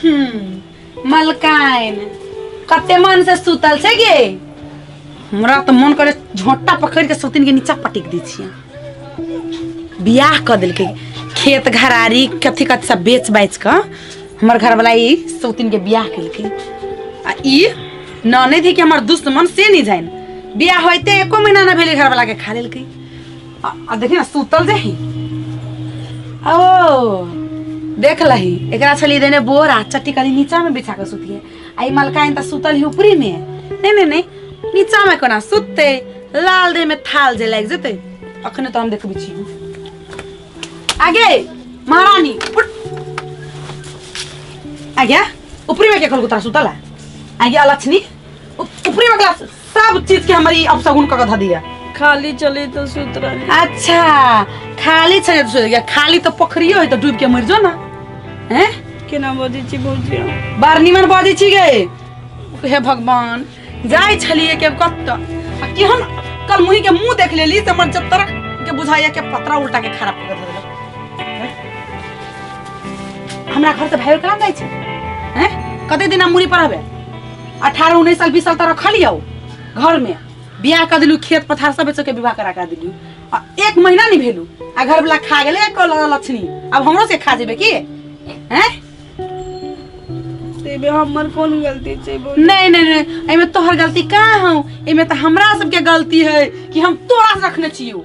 हम्म, मलकाइन कते मन से सुतल छै गे हमरा तऽ मन करे झोटा पकड़ के सौतिन के नीचा पटक दै छियै बियाह कऽ देलकै खेत घरारी कथी कथी सब बेच बाच कऽ हमर घरवाला ई सौतिन के बियाह केलकै आ ई ननद है कि हमर दुश्मन से नहीं जाइन बियाह होते एको महीना ना भेलै घरवाला के खा लेलकै आ आ देखी ना सुतल जे ही ओ देख लही एकरा छली देने बोर आ चट्टी कली नीचा में बिछा के सुतिए आई मलकाइन त सुतल ही ऊपरी में नहीं नहीं नहीं नीचा में कोना सुतते लाल देह में थाल जे लाग जते अखने तो हम देखबी छी आगे महारानी उठ आगे ऊपरी में के कल कुतरा सुतला आगे अलक्षणी ऊपरी में क्लास सब चीज के हमारी अब सगुन कह ध दिया खाली चली तो सुत रही अच्छा खाली छे तो सोएगा खाली तो पोखरियो है तो डूब के मर जो ना हैं के नाम बजी छी भौजी हम। बार निमन बाजी छी गए हे भगवान जाय छलिए के कत आ केहन कल मुही के मुंह देख लेली त मन जब तरक के बुझाइया के पतरा उल्टा के खराब कर देलक हमरा घर से भाई कहाँ जाय छै हैं कते दिन हम मुड़ी पर हबे अठारह उन्नीस साल बीस साल तक रखलियो घर में बियाह कर दिलू खेत पथार सब बेच के विवाह करा कर दिलू आ एक महीना नहीं भेलू आ घर वाला खा गेले एक कल लक्षणी अब हमरो से खा जेबे की हैं तेबे हमर कोन गलती छै बोल नहीं नहीं नहीं एमे तोहर गलती का हूँ एमे तो हमरा सबके गलती है कि हम तोरा से रखने छियो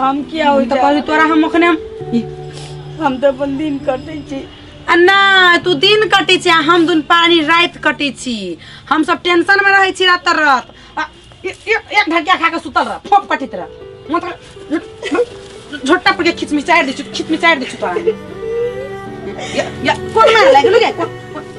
हम किया हो हम तऽ कहली तोरा हम अखने हम ई, हम तऽ अपन दिन कटै छी आ नहि तू दिन कटै छी आ हम दुन पानी राति कटै छी हम सब टेंशन मे रहै छी रात तर रात आ, ए- ए- एक ढकिया खा के सुतल रह फोप कटित रह म तऽ झोटा पर के खिचमिचारि दै छु खिचमिचारि दै छु तोरा हम। या- या, कोन मार लागि गेलौ गे कोन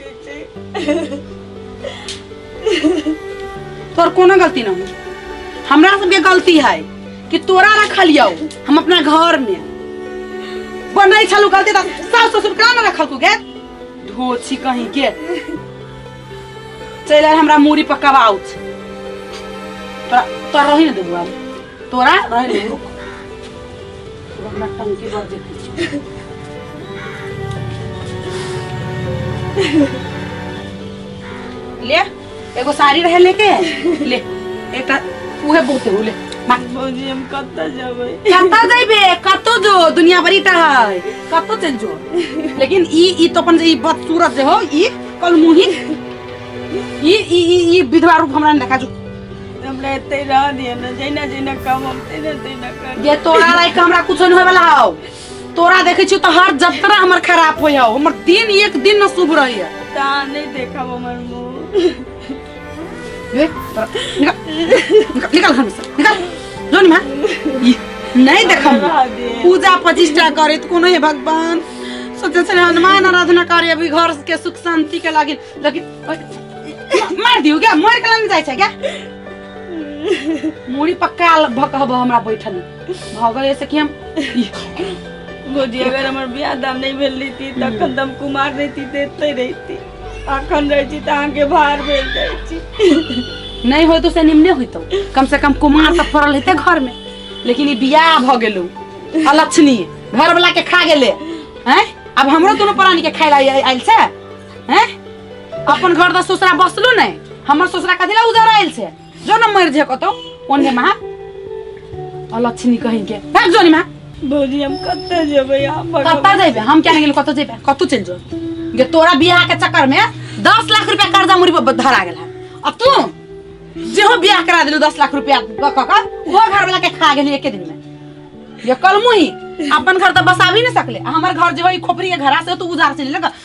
चीची तोर कोनो गलती ना हो हमरा सबके गलती है कि तोरा रखलियौ हम अपना घर में बनै छलू गलती तऽ सास ससुर का ना रखल तू गे धोछी कहीं के चलि आयल हमरा मूड़ी पर कबाउच तोरा तोरा रही ने देबू आब तोरा रह ले रुक तू हमरा टंकी भर देती ले एगो साड़ी रहे लेके ले एकटा उहे बहुते हो ले मार भौजी हम कतऽ जेबै कतऽ जइबे कतऽ जो दुनिया भरी टा है कतऽ चल जो लेकिन ई ई तो अपन ई बदसूरत जे हो ई कल मुही ई ई ई- ई विधवा रूप हमरा ने देखा जो हमरा एते रह दिए ना जैना जैना काम हम तैना तैना कर ये तोरा रह के हमरा कुछ नहीं होए वाला हौ तोरा देखे छी तो हर जतरा हमर खराब होय हौ हमर दिन एक दिन न शुभ रही है ता नहीं देखब हमर मुंह ए, तोरा- निकाल निकाल- निकाल घर में से निकाल जो नहीं मां ई, नहीं देखम रह दिए पूजा प्रतिष्ठा करे तो कोनो है भगवान सोचे से हनुमान आराधना करे अभी घर के सुख शांति के लागिन लेकिन मार दियो क्या मार के लाने जाय छै क्या मुड़ी पक्का भक हब हमरा बैठल भगल ऐसे कि हम भौजी अगर हमर बियाह दाम नहीं भेल रही तखन दम कुमार रहती देते रहती अखन रह छी त अहाँ के भार भेल जाय छी नहीं होय तो से निम्ने होइतो कम से कम कुमार सब पड़ल हेते घर में लेकिन ई बियाह भ गेलो अलक्षणीय घर वाला के खा गेले हैं अब हमरो दोनों प्राणी के खाइला आइल छै हैं अपन घर दा ससुरा बसलो नै हमर ससुरा कथि ला उधर आइल छै जो न मर जे कतो ओने मा अलक्षणी कहि के भाग जोनी मा भौजी हम कत्ते जेबै हम कत्ता जेबै हम क्या गेल कतो जेबै कतो चल जो जे तोरा बियाह के चक्कर में 10 लाख रुपया कर्जा मुरी पर धरा गेल है आ तू जे हो बियाह करा देलू 10 लाख रुपया क क क वो घर वाला के खा गेली एके दिन में ये कलमु ही अपन घर तो बसावी नहीं सकले आ हमर घर जे होई खोपरी के घरा से तो उधार से लेलक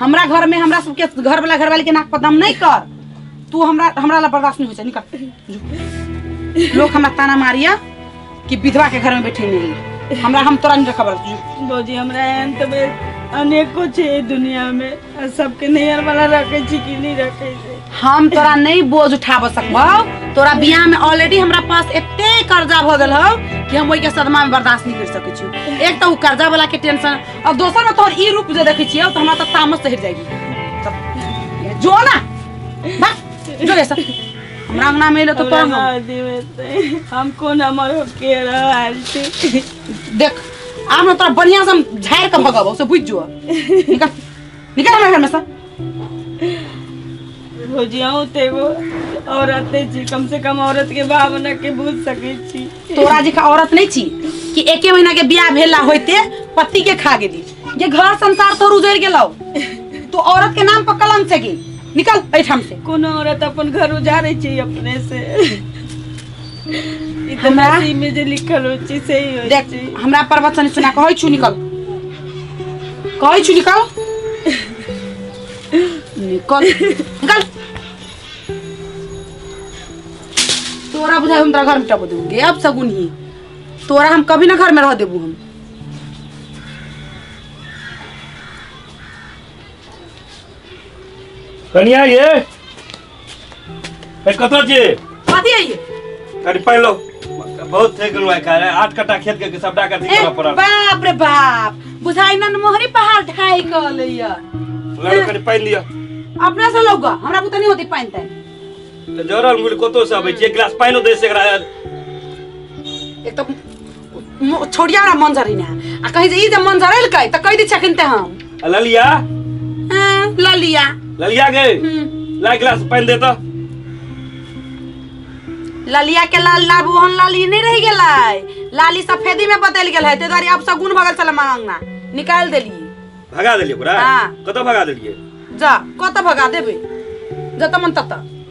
हमरा घर में हमरा सबके घर वाला घर वाले के नाक पर दम नहीं कर तू हमरा हमरा ला बर्दाश्त नहीं हो जाए निकल लोग हमरा ताना मारिया कि विधवा के घर में बैठे नहीं हमरा हम तोरा नहीं रखबर जो भौजी हमरा एहन तऽ बे- अनेको छै एहि दुनिया मे आ सबके नैहर वाला रखे छी कि नहि रखे छै हम तोरा नहीं बोझ उठाब सकबौ तोरा बियाह में ऑलरेडी हमरा पास एते कर्जा भ गेल हौ कि हम ओहि के सदमा में बर्दाश्त नहीं कर सकै छी एक तऽ ओ कर्जा वाला के टेंशन आ दोसर में तोहर ई रूप जे देखै छियै तऽ हमरा तऽ तामस चढ़ि जाएगी तब जो ना बस जो ऐसा हमरा अंगना में एलो तऽ हमरा तोरा ना देवे ते। हम कोन हमर होके रहल छी देख आब ने तोरा बढ़िया से हम झाड़ के भगब से बुझ जो निकल निकल हमारे घर में से भौजिया होते एगो औरत है जी कम से कम औरत के भावना के बुझ सके छी तोरा जी का औरत नहीं छी कि एके महीना के बियाह भेला होते पति के खा गेली जे घर संसार तोर उजड़ गेलो तो औरत के नाम पर कलम से गेल निकल ऐठाम से कोनो औरत अपन घर उजारे छी अपने से इतना हमरा- में जे लिखल हो छी से ही हो देख छी हमरा प्रवचन सुना कहै छु निकल कहै छु निकल निकल निकल तोरा बुझाइ हम तोरा घर में टप दूंगी अब सगुन ही तोरा हम कभी ना घर में रह देबू हम कनिया ये ए कतऽ छी कथी है ये कनि पानि लो बहुत थकि गेलहुँ आइ काल्हि आठ कट्टा खेत के सबटा के अथी ए, करऽ पड़ल बाप रे बाप बुझाइ नन मोहरी पहाड़ ढाई कहले ये लड़ू कनि पानि लिअ अपने से लौगा हमरा बुते नहीं होती पानी ताई तऽ जरल मुड़ी कतौ से अबै छी एक गिलास पानिओ दै छै एकरा एक तो मो- छोड़िया हमरा मन जरी ना आ कहीं जे ई जे मन जरैल कै त कहि दै छखिन ते हम आ ललिया हाँ, ल लिया ललिया गे हम्म, ला गिलास पानि दे तो ललिया के लाल लाबू हन लाली नहीं रह गेलै लाली सफेदी में बदल गेल है ते द्वारे अब सगुन भगल चल मांगना निकाल देली भगा देलियै ओकरा हाँ। कतऽ भगा देलियै जा कत भगा देबे जत मन तत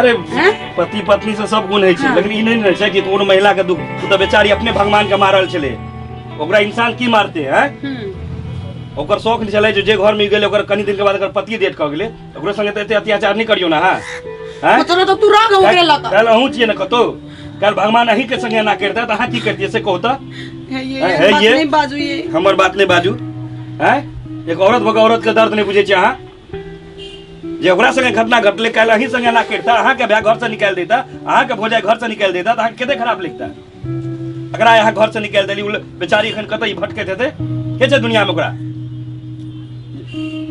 अरे हैं? पति पत्नी से सब गुण होइ छै हाँ। लेकिन ई नहि ने रहै छै कि कोनो महिला के दुख ओ तऽ बेचारी अपने भगवान के मारल छलै ओकरा इंसान की मारते हैं हम्म, ओकर शौक नहि छलै जे जे घर में गेलै ओकर कनी दिन के बाद अगर पति डेट कऽ गेलै तऽ ओकरो संगे तऽ एते अत्याचार नहि करियौ ने अहाँ हैं? मतलब तो तू रह गए ओकरे लता काल्हि अहूँ छियै ने कतौ काल्हि भगवान अहीं के संगे एना करिता तऽ अहाँ की करतियै से कहू तऽ है ये हैं, है बात ये? नहीं बाजू ये हमर बात नहि बाजू हैं एक औरत भऽ कऽ औरत के दर्द नहि बुझै छियै अहाँ जे ओकरा संगे घटना घटले काल्हि अहीं संगे ना करता अहाँके भाय घर से निकाल देता अहाँके भौजाई घर से निकाल देता तऽ अहाँके कते खराब लगता एकरा अहाँ घर से निकाल देली उ ल- बेचारी एखन कतऽ भटकैत हेतै के छै दुनियामे ओकरा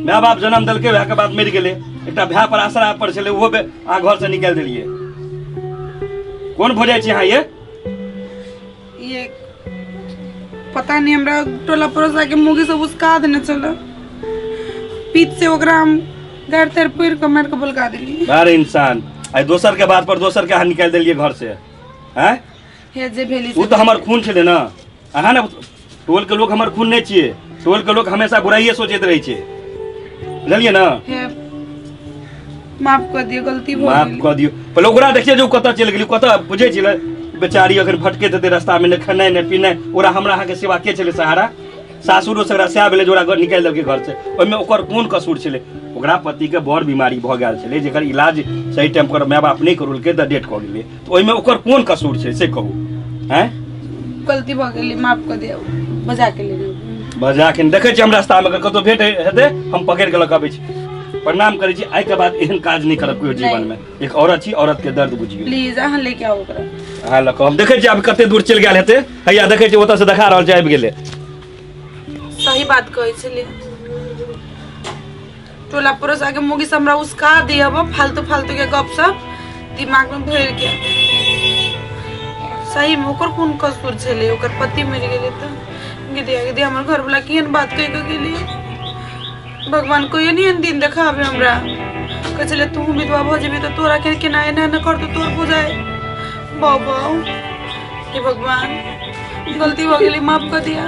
माय बाप जन्म देलकै वएह के बाद मरि गेलै एकटा भाय पर आसरा पर छलै ओहो बे- अहाँ घर से निकाल देलियै कोन भौजाई छी अहाँ ये ये पता नहीं हमरा टोला पड़ोसा के मुगी सब उसका देने चलो पीत से ओकरा हम घर तर पुर के मार के बुलका देली अरे इंसान आई दोसर के बात पर दोसर के अहाँ निकाल दिलिए घर से हैं हे जे भेली उ तो हमार खून छले ना अहाँ ने टोल के लोग हमर खून नहीं छिए टोल के लोग हमेशा बुराइए सोचते रहे छे बुझलिए ना हे माफ कर दियो गलती भ माफ गेल कर दियो पहले ओकरा देखिए जो कतऽ चलि गेली कतऽ बुझे छिले बेचारी अगर भटके देते रास्ता में ने खेनाइ ने पीनाइ ओकरा हमरा अहाँ के सेवा के छले सहारा सासुरो से ओकरा सएह भेलै जे ओकरा घर निकालि देलकै घर से ओहिमे ओकर कोन कसूर छलै ओकरा पति के बड़ बीमारी भऽ गेल छलै जेकर इलाज सही टाइम पर माय बाप नहि करौलकै तऽ डेट कऽ गेलै तऽ ओहिमे ओकर कोन कसूर छै से कहू हैं गलती भऽ गेलै माफ कऽ दियौ बजा के लेने अबू। बजा के देखै छी हम रास्तामे अगर कतहु भेट हेतै हम पकड़ि कऽ लऽ कऽ अबै छी प्रणाम करै छी आइके बाद एहन काज नहि करब केओ जीवनमे एक औरत छी औरतके दर्द बुझियौ प्लीज अहाँ लेके आउ ओकरा अहाँ लऽ कऽ हम देखै छी आब कते दूर चलि गेल हेतै हैया देखै छी ओतऽसँ देखा रहल छै आबि गेलै सही बात कहै छलियै टोला पड़ोस आके मुगी से हमरा उसका दिया वो फालतू फालतू के गप सब दिमाग में भर के सही में ओकर कौन कसूर छले ओकर पति मर गेले तो गे दिया गे दिया हमर घर वाला केहन बात कह के गेलिए भगवान को ये नहीं दिन देखाबे हमरा कह छले तू विधवा भऽ जेबी तऽ तोरा के केना एना एना कर तो तोर बुझाए बाबा हे भगवान गलती हो गेली माफ कर दिया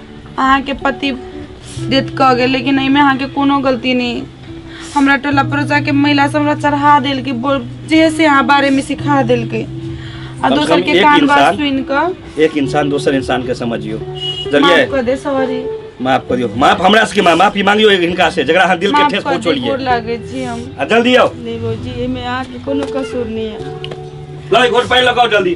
अहाँके पति डेथ कऽ गेल लेकिन एहिमे अहाँके कोनो गलती नहि हमरा टोला परोसा के महिला सब हमरा चढ़ा देलकै बोल जे से अहाँ बारे में सिखा देलकै आ कम से दोसर कम के एक कान बात इंसान- सुनि कऽ एक इंसान दोसर इंसान के समझियो माफ जलिए कऽ दे सॉरी माफ करियो माफ हमरा से के माफ माफी मांगियो हिनका से जकरा अहाँ दिल के माफ ठेस कऽ दे पहुंचोलिए गोर लागै छी हम आ जल्दी आओ नहीं भौजी एहिमे अहाँके कोनो कसूर नहीं है लो एक घोट पानी लगाओ जल्दी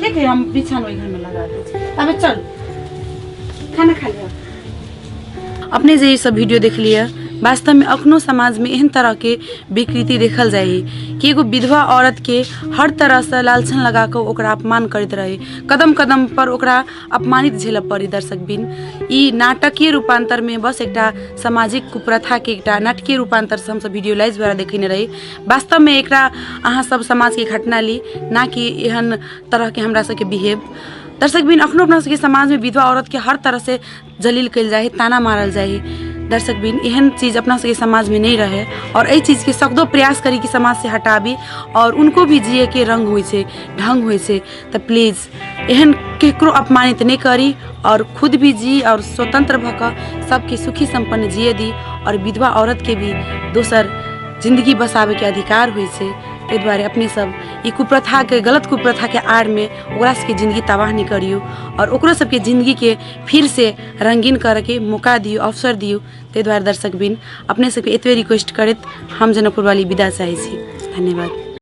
ठीक है हम बिछान वही घर में लगा देते अबे चल खाना खा लिया अपने जे ई सब वीडियो देख लिया वास्तव में अखनो समाज में एहन तरह के विकृति देखल जाय है कि एगो विधवा औरत के हर तरह से लालछन लगा के ओकरा अपमान करैत रहे कदम कदम पर ओकरा अपमानित झेलऽ पड़ी दर्शक बिन ई नाटकीय रूपांतर में बस एकटा सामाजिक कुप्रथा के एकटा नाटकीय रूपांतर से हमसब वीडियो लाइज द्वारा देखेने रही वास्तवमे एकरा अहाँ सब समाजके घटना ली ना कि एहन तरहके हमरा सबके बिहेव दर्शक बिन अखनो अपना सबके समाजमे विधवा औरतके हर तरहसँ जलील कयल जाइ है ताना मारल जाइ है दर्शक बिन एहन चीज अपना सबके समाजमे नहि रहै आओर एहि चीजके सकदो प्रयास करी कि समाजसँ हटाबी आओर उनको भी जियैके रङ्ग होइ छै ढङ्ग होइ छै तऽ प्लीज एहन केकरो अपमानित नहीं करी और खुद भी जी और स्वतंत्र भऽ कऽ सबके सुखी संपन्न जिए दी और विधवा औरत के भी दोसर जिंदगी बसाबे के अधिकार होइ छै ताहि दुआरे अपने सब ई कुप्रथा के गलत कुप्रथा के आड़ में ओकरा सबके जिंदगी तबाह नहीं करियो और ओकरो सबके जिंदगी के फिर से रंगीन करे के मौका दियो अवसर दियो ताहि दुआरे दर्शक बिन अपने सबके एतबे रिक्वेस्ट करैत हम जनकपुर वाली विदा चाहै छी धन्यवाद